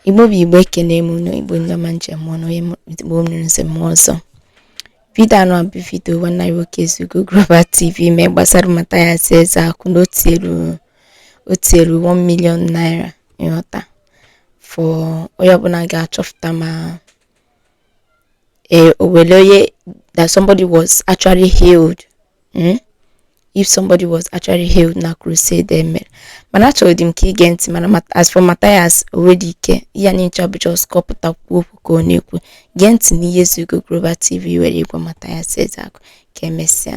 igbo bụ igbo ekene m unu igbo ndị ọma njem ọnụ onye igbo m nụrụ nsị m ọzọ vidio anụa bụ vidio nwanne anyị nwoke ezeugo global tv mee gbasara matthias ezeaku na o tielu 1 million naira ịghọta for onye ọbụla ga-achọpụta ma uh, o nwelu onye, that somebody was actually healed. Hmm? If somebody was actually healed na crusade e mere mana achọrọ dị m ka i gee ntị mana as for Matthias onwedị ike ya na ncha bụ just kọpụta kwuo okwu ka ọ na-ekwu gee ntị n'ihe Ezeugo Global TV were gwa Matthias Ezeaku ka emesịa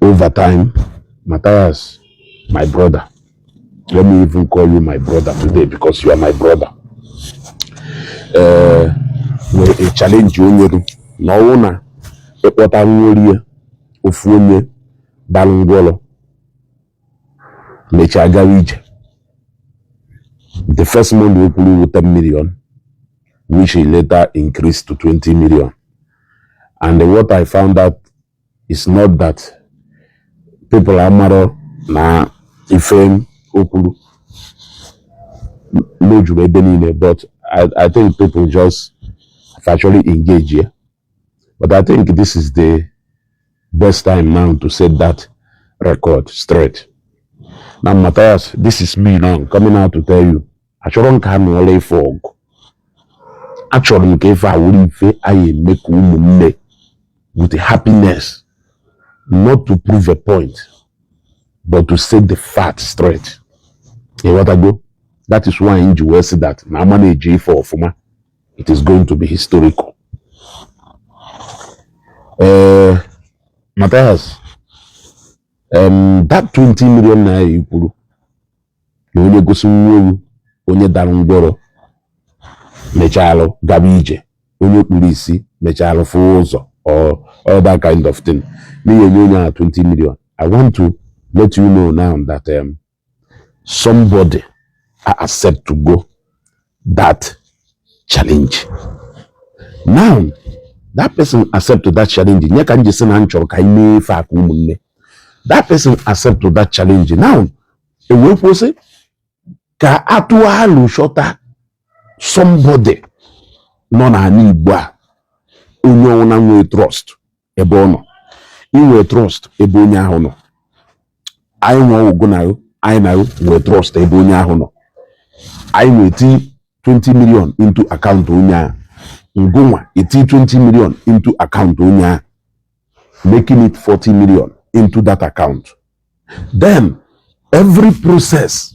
overtime Matthias my brother let me even call you my brother today because you are my brother ee eh, nwere a challenge o nyere na ọwụ na ịkpọta nworie ofu onye dalụ ngwọrọ mechaa gawa ije the first money o kwuru wu 10 million which he later increased to 20 million and what I found out is not that people amarọ na ife o kwuru na o juru ebe niile but I, I think people just factually engage ya But I think this is the best time now to set that record straight. Now, Matthias, this is me now coming out to tell you. Achọrọ m ka a nụọlụ ife ọgụ. Achọrọ m ka ife a wụrụ ife anyị eme ka ụmụnne with happiness not to prove a point but to set the fact straight. Ịghọtago? That is why m ji wee sị that na a manage ife ọfụma it is going to be historical ee eh, Matthias um, that 20 million naira i kwuru na onye gosi m ofu onye dara ngwọrọ mechalụ gaba ije onye kpuru isi mechalụ fụ ụzọ or all that kind of thing na ị ya-enye onye ahụ 20 million i want to let you know now that um, somebody acceptụgo that challenge now that person acceptụ that challenge ya ka m ji sị na m chọrọ ka anyị mee ife a ka ụmụnne that person acceptụ that challenge now e wee kwuo sị ka a tụa alo chọta somebody nọ n'anị Igbo a onye ọwụna nwee trust ebe ọ nọ i nwee trust ebe onye ahụ nọ anyị nwe ọgwụgwụ na anyị na nwee trust ebe onye ahụ nọ anyị nwa eti 20 million into account onye ahụ ngịnwa eti 20 million into account onye ahụ making it 40 million into that account then every process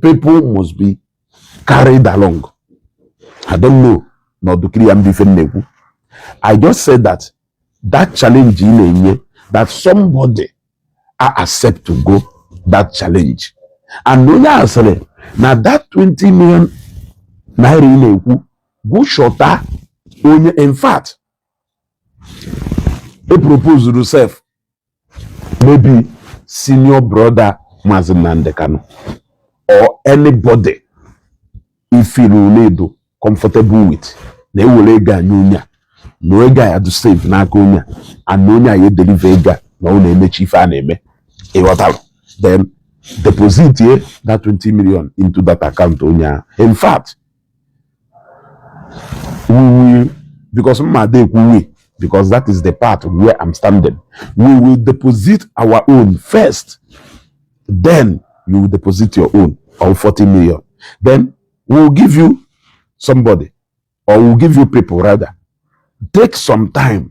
people must be carried along i don't know na ọ dụ clear bụ ife m na-ekwu i just said that that challenge ị na-enye that somebody a accept to go that challenge and na onye a sịrị na that 20 million naira ị na-ekwu gụ chọta onye in fact e proposuru self maybe senior brother Mazi Nnamdi Kanu or anybody i feelụ na ị dụ comfortable with na e were ego a nye onye a na ego a ya-adụ safe n'aka onye a and na onye a ya-edeliver ego a na ọ na e mechaa ife a na-eme ị ghọtara then depositie that 20 million into that account onye a in fact we because mma dey we because that is the part where i'm standing we will deposit our own first then you will deposit your own or 40 million then we will give you somebody or we will give you people rather take some time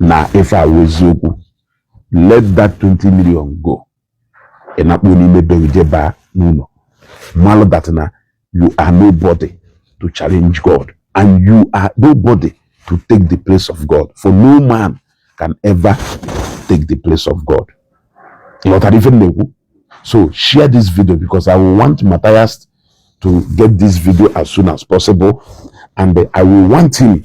na ife a wụ eziokwu let that 20 million go ị nakpuo n'ime be gị jee baa n'ụlọ malụ that na you are nobody to challenge God and you are nobody to take the place of God for no man can ever take the place of God ị ghọtara ife m na-ekwu so share this video because I will want Matthias to get this video as soon as possible and I will want him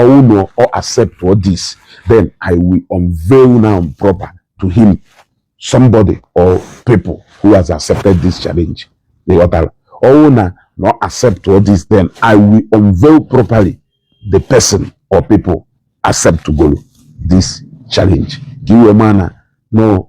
ọwụ na ọ accept all this then i will unveil now proper to him somebody or people who has accepted this challenge they ghọtara ọwụ na na ọ accept all this then i will unveil properly the person or people accept to go this challenge ka iwe ma na no